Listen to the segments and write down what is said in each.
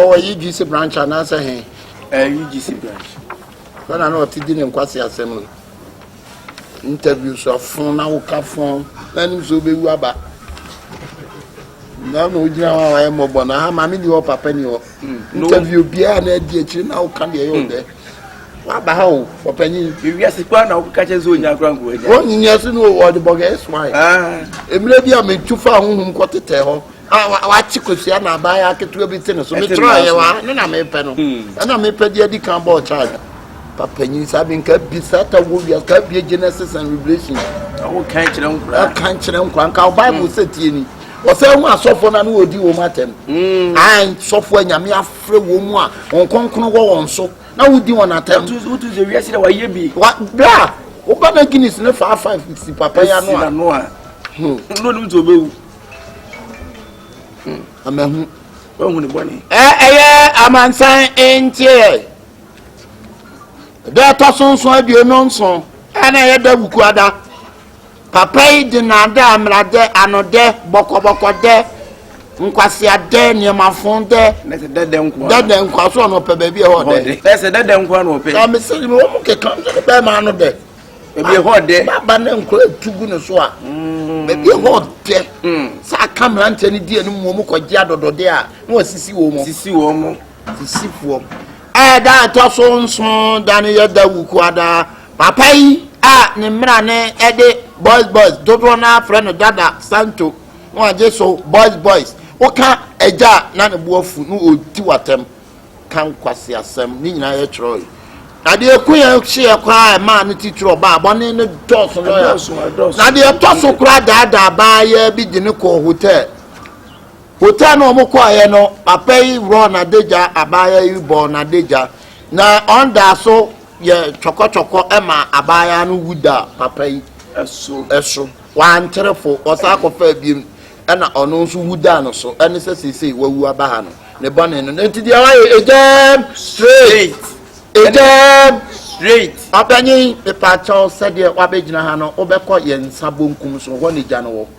ɔwɔ yi gc branch anaasɛ he ɛyi gc branch bɛna na ɔte di ne nkwase asɛm no interview so afon na woka fon na nim sɛ wobɛwu aba na na ogyina hɔ a wayɛ mmɔbɔ na ha maame ni hɔ papa ni hɔ hmm. interview biara na adi akyiri na woka deɛ ɛyɛ ɔdɛ waba ha o ɔpanyin ewiase kura na woka kyɛ sɛ onya kura nkoa gya wɔn nyɛ so no ɔde bɔgɛ ɛso ayɛ ah. mmerɛ bi a metu fa ahohom kɔ tetɛ hɔ a wakye kosua na abaayɛ aketewa bi te ne so metra yɛ wa ne na mepɛ no hmm. ɛna mepɛ deɛ adi kan bɔɔ charge papa nyi saa bi nka bi saa ta wɔ wia nka bi genesis and revelation ɔka nkyerɛ nkora ɔka nkyerɛ nkora nka bible sɛ tie ni ɔsɛ ho asɔfoɔ no ano wɔdi wɔn atɛm ae sɔfoɔ nyame afrɛ wɔn mu a wɔn kɔnkɔn wɔ wɔn so na wodi wɔn atɛm wotu sɛ wiase dɛ wayɛ bi bra woba na guinness ne faa five si papa ya no a no a no nim sɛ ɔbɛwu amahu wahu ne bɔne ɛyɛ amansan nteɛ Da a ɛtɔ so nson aduonu nson a na ɛyɛ da wukuada papa yi de naadaa mmeradɛ anodɛ bɔkɔbɔkɔdɛ nkwaseadɛ nneɛmafo dɛ dɛdɛ nkwa so ɔno ɔpɛ baabi ɛhɔ dɛ ɛsɛ dɛdɛ nkwa na ɔpɛ na mesɛ me wɔ mu keka nso ne bɛrima ano dɛ baabi ɛhɔ dɛ baba ne nkora atu gu ne so a mm. baabi ɛhɔ dɛ mm. sɛ aka mmeranteɛ no di anim wɔ mu kɔgye adɔdɔdeɛ a na wasisi wɔ mu sisi wɔ mu Fisifoɔ. Ɛyɛ da a ɛtɔ so nson da no yɛ da wukuwa daa. Papa yi a ne mmara ne ɛde boys boys dodoɔ no afrɛ no dada santo na wagye so boys boys. Woka agya a na ne bo afu na ɔdi w'atɛm ka nkwasi asɛm ne nyinaa yɛ kyerɛ yi. Na deɛ ɛko yɛ hyeɛ koraa a ɛmaa no titiri ɔbaa bɔne no dɔɔso lɔya. Na deɛ ɛtɔ so koraa daadaa baa yɛ bi de no kɔɔ hotel. Hotel no a wɔkɔeɛ no, papa yi worɔɔ n'adagya, abaayewa yi bɔɔ n'adagya, na ɔdaa so yɛ twɔkɔtwɔkɔ ma abaayewa no wu da papa yi so. so. Wantere fo, ɔsan kɔfaa biom, ɛna ɔno nso wu daa no so. Ɛne sɛ seesei wawu aba ha no, ne bɔne no, enti deɛ wayɛ, egyam straight, egyam straight. Ɔpanyin, mepaakyɛw, sɛdeɛ wabɛgyina ha no, wobɛkɔ yɛn nsa bonkum so, hɔ na egya no wɔ.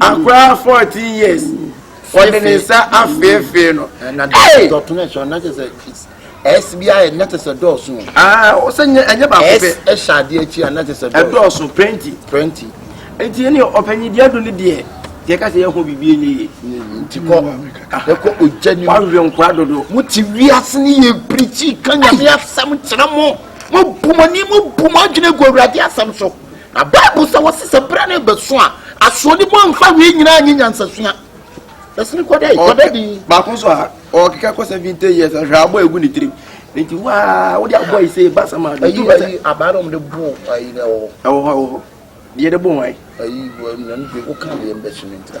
Akwadaa fourteen years ɔde ne nsa afeefee no. na dɔtɔ na ɛhyɛ na kyɛ sɛ ɛs bi ayɛ na kyɛ sɛ dɔɔso. aa ɔsɛ nyɛ ɛnyɛ baako pɛ. ɛs ɛhyɛ adeɛ akyi a na kyɛ sɛ dɔɔso. ɛdɔɔso plenty. plenty. nti ɛni ɔpanyin deɛ do ne deɛ deɛ kasa yɛ ho bibi enye yie. nti kɔ ɛkɔ ogya ni mu. wawe nkwa dodo. mo ti wiase ni yɛ pirikyi kanyame asɛm kyerɛ mo mo bu mo ni mo bu mo adwene gu awurade asɛm so. Na Bible sɛ wɔse sɛ berɛ no bɛso a asoɔdi mu amfa wei nyinaa nye nyansasua. Ɛsene kɔda yi, kɔda di. Baako nso a ɔkeka kɔ seventy years ahwɛ abɔ egu ne tirim. Nti waa wode abɔ yi sɛ basa ma do. Ayi ayi abaa na wɔde bo ayi na ɛwɔ hɔ. Ɛwɔ hɔ ɛwɔ hɔ. Deɛ de bo wɔn ayi. Ayi wɔn na ne de woka deɛ mbɛhyɛ ne ntira.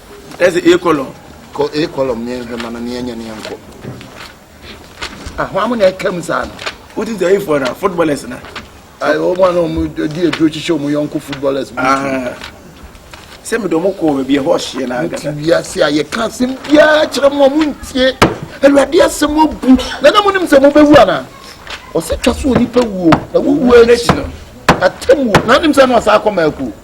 Ɛsɛ A column. Kɔ A column ne yɛnhwɛ ma no ne yɛnyɛ ne yɛnkɔ. Ahoa mo na ɛka mu saa no. Wote sɛ eyifoɔ na footballers na. Wɔn a na wɔn di aduro kyekyɛ wɔn yɔnko footballers bi. Ah. Sɛ mi dɔn mo kɔ baabi ɛhɔ ɔhyeɛ na agada. Wote wiase a yɛka asɛm biara kyerɛ mo a mo ntie. Awurade asɛm abu. Na na mo nim sɛ mo bɛwu anaa? Ɔsɛ twa so onipa wuo na wuwu akyi no. Atem wuo. Na nim sɛ na ɔsan akɔ mako.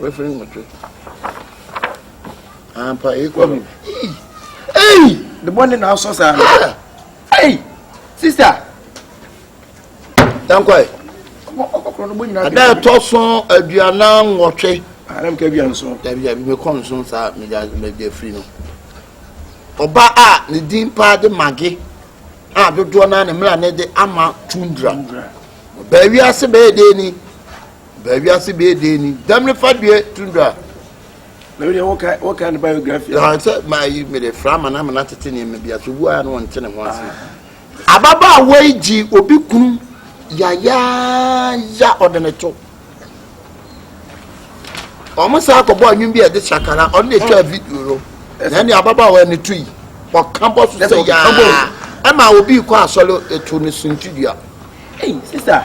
Wafiri nwɔtwe. Ampa ah, ekɔ no. Ei! Ne bɔne na asɔ saa. Ei! Sista! Dankwae. Ada ɛtɔ so aduanan nwɔtwe. Anam ah, ka aduan nson. Dabi dabi mekɔ nson saa megya megya firi no. Ɔba a ne din paa de mage a dodoɔ naa ne mmira ne de ama tundra. Baawi ase bɛyɛ dee ni. Baa wiase bɛyɛ den ni. Dɛm ne fa deɛ tundra. Mɛmi deɛ wɔka wɔka ne biography. Na sɛ maa yi mi de fra ama na ama na tete nneɛma bi ase obu a na wɔn te ne ho ase. Ah. Ababaawa yi gye obi kunu yayaaya ɔde ne to. Wɔn saa akɔbɔ anwum bi a ɛde sakara ɔno na etwa video no. Na ɛne ababaawa ne to yi ɔka bɔ so sɛ yaa ɛma obi kɔ asɔre etu ne suntidua. Hey sister.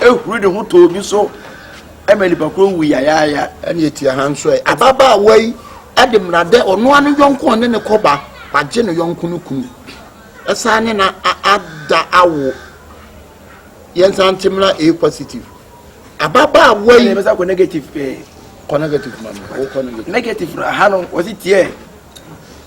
ahuri ne ho tɔɔ bi so ma nipa koro wu yayaaya ɛne ɛti aha nso ɛ ababaawa yi ɛde mmeradɛ ɔnoa no yɔnko ɔne ne kɔba wagye ne yɔnko no kunu ɛsan ne na ada awo yɛnsa nte mmra a positive ababaawa yi ɛbɛsa kɔ negative pɛɛ kɔ negative ma no wokɔ negative negative ha no wɔsi tiɛ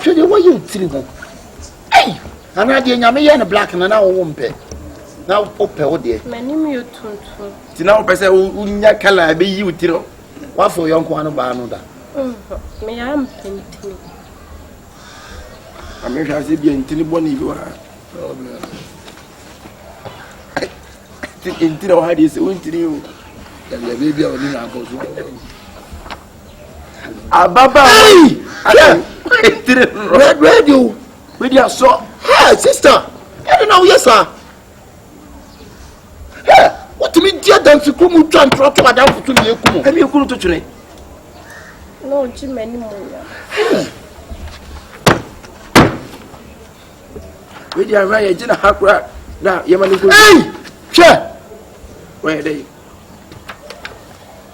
hwɛ deɛ wɔyɛ otiri ho ei anaa deɛ nyame yɛ no black na na wɔwɔ mpɛ na wopɛ wo deɛ m'anim yɛ tuntum nti na wopɛ sɛ wonya kala a ɛbɛyi wo tiri wafo yɔnko ano baa no da meyɛ ampɛ ntini amehwɛ ase bia ntini bɔne bi wɔ ha ntini wɔ ha deɛ sɛ wontini o dabidabi bia ɔne na akɔ so ababaawa yi ayɛ tiri rɛdrɛdi o wei di asɔ hɛ sista ɛdi na woyɛ saa hɛ wotumi di adansi kuro mu twa ntorɔ to adanfo so mmiɛ kum ɛmi ekuru to twene. na ɔgye m'anim nya. wei di ahwɛ yɛ gye na ha kura na yɛ ma ne nkuru. ɛyi hwɛ wɔyɛ dɛ yi.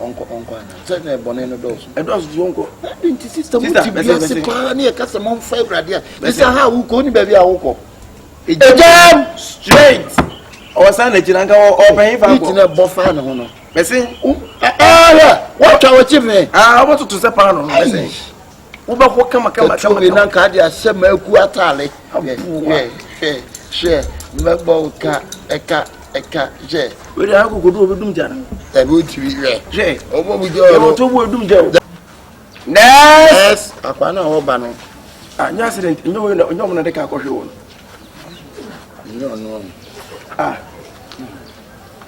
ɔnkɔ ɔnkɔ ana sɛ na bɔne no dɔɔso ɛdɔɔso so ɔnkɔ ɛde nti sista mo ti bi ase paa ne ɛka sɛ momfa awurade a ɛsɛ ha wokɔ woni baabi a wokɔ ɛgyam straight ɔwɔ saa na gyina nka ɔpɛn fa kɔ ɛtina bɔ faa ne ho no bɛse ahɛ woatwa wɔkye me ɔbɛtoto sɛ paa no no bɛse wobɛho kama kama kama kama na nka de ahyɛ maku atare hwɛ hwɛ hwɛ mɛbɔ ka ɛka ɛka hwɛ wei de akokodo obi dum gya no ɛbi otiri hwɛ hwɛ ɔbɔ mu gya ɔno yɛn to bu edum gya o nɛɛs akwa na ɔba no a nyɛ accident nyɛ wɔn na nyɛ wɔn na de ka akɔhwɛ wɔn nyɛ ɔno a.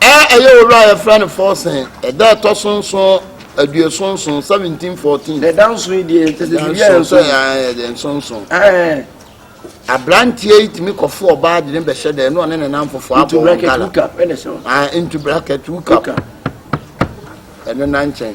A Ɛyɛ owura a yɛfrɛ no Forsen, ɛda a ɛtɔ so nson, aduoson nson, 17 14. Na ɛda nson yi deɛ kyɛ sɛ biribi a ɛnso Ɛda nson, ɛyɛ dɛ, nson nson. Ɛɛ, Aberanteɛ yi tumi kɔfo ɔbaa de ne bɛhyɛ dɛ, ɛne ɔne ne namfofo abɔ ntu wɔn bracket gala. hookup ɛna ɛhyɛ hɔ. Ah, into bracket hookup. Hookup. Ɛno na nkyɛn.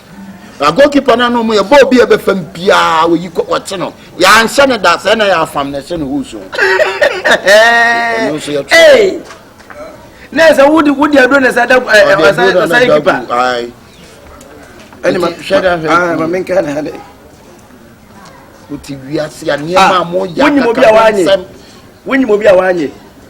Na goalkeeper no ano mu yɛ bɔɔl bi a ɛbɛfa mu biara wɔyi kɔ wɔte no yɛanhyɛ no da sɛ na yɛafam na ɛhyɛ no hoo so ɔno nso yɛto na ɛsɛ wode wode aduro na ɛsɛ da ɔsan kipa ɛne ma hwɛ da hwɛ ma menka ne ha dɛ wote wiase a nneɛma a moyɛ akakasɛm wonyim obi a wanyɛ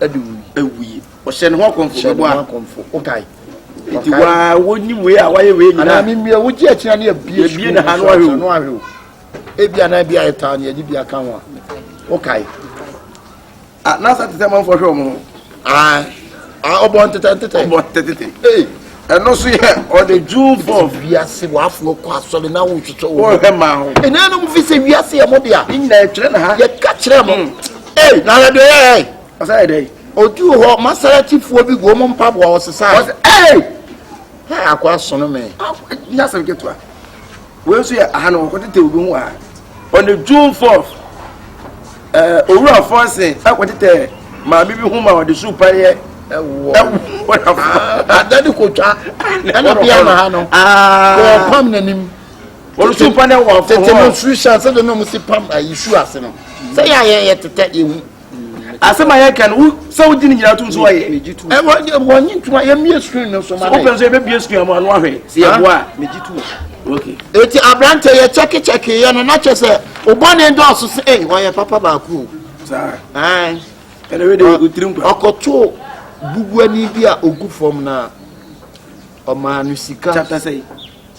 ɛde wui. Ɛwui. Ɔhyɛ ne ho akɔmfo bɛbɔ a. Ɔhyɛ ne ho akɔmfo. Wokae. Nti waa wonim wei a wayɛ wei nyinaa. Anaa memmue wogye akyina ne abie sukuu. Yɛbie na ha no ahwɛ o. No ahwɛ o. Ebi a na ebi a yɛtaa ne yɛde bi aka ho a. Wokae. Ah, na asa te sɛ manfoɔ hwɛ wɔn ho. Ah, ah ɔbɔ ntetɛ ntetɛ. Ɔbɔ ntetɛ ntetɛ. Ee, Ɛno nso yɛ ɔde June four. Sɛ wiase wafoɔ kɔ asɔre na wohwehwɛ wɔn. Wɔhwɛ maa ho. Ɛnaa nom fi sɛ wiase yɛ mo dea. Ne nyinaa ɛtwerɛ na ha. Yɛka kyerɛ mo. Mm. Ei na yɛde yɛ ɛ. Ɔsɛ yɛ dɛ. Odu hɔ masaratifoɔ bi gu wɔn mpaboa ɔsesa. Ɔsɛ ei. Ha akɔ asono me. Nyasɛm ketewa. Wei nso yɛ aha na wɔkɔtetɛ obi ho aha. On the June 4th, eh, Owura Fonsen akɔtetɛ maame bi ho ma ɔde su pa yɛ adade kotwa obi ama ha no wɔpam n'anim ɔresu pa ne wɔ afɔ hɔ tete no su hyɛ sɛ de nom si pam ayi su ase no sɛ yɛ ayɛ yɛ tetɛ ehu asɛm a yɛka no sɛ wogye ne nyinaa tom so wayɛ wɔnye ntom a yɛmmie screen no so ma no wopɛ so yɛbɛbie screen ama ano ahwɛ sɛ yɛboa a megye tom eti aberante yɛ kyɛkekyɛke yɛ no na kyɛ sɛ obɔne dɔɔso sɛ ei wɔyɛ papa baako ɔkɔtoo bubuani bi a ogu fam na ɔmaa no sika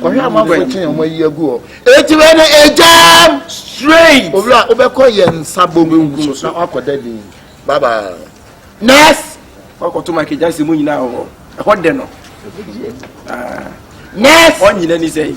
kɔhwɛ amanfoɔ ɛkyɛn wɔn ayi agu hɔ eti wei no egyam straight owura wobɛkɔ yɛn nsa bom nso na wakɔ dɛ din bye bye next wakɔto mike gyansi mu nyinaa wɔ ɛhɔ dɛ no next ɔnyina ni sɛ yi.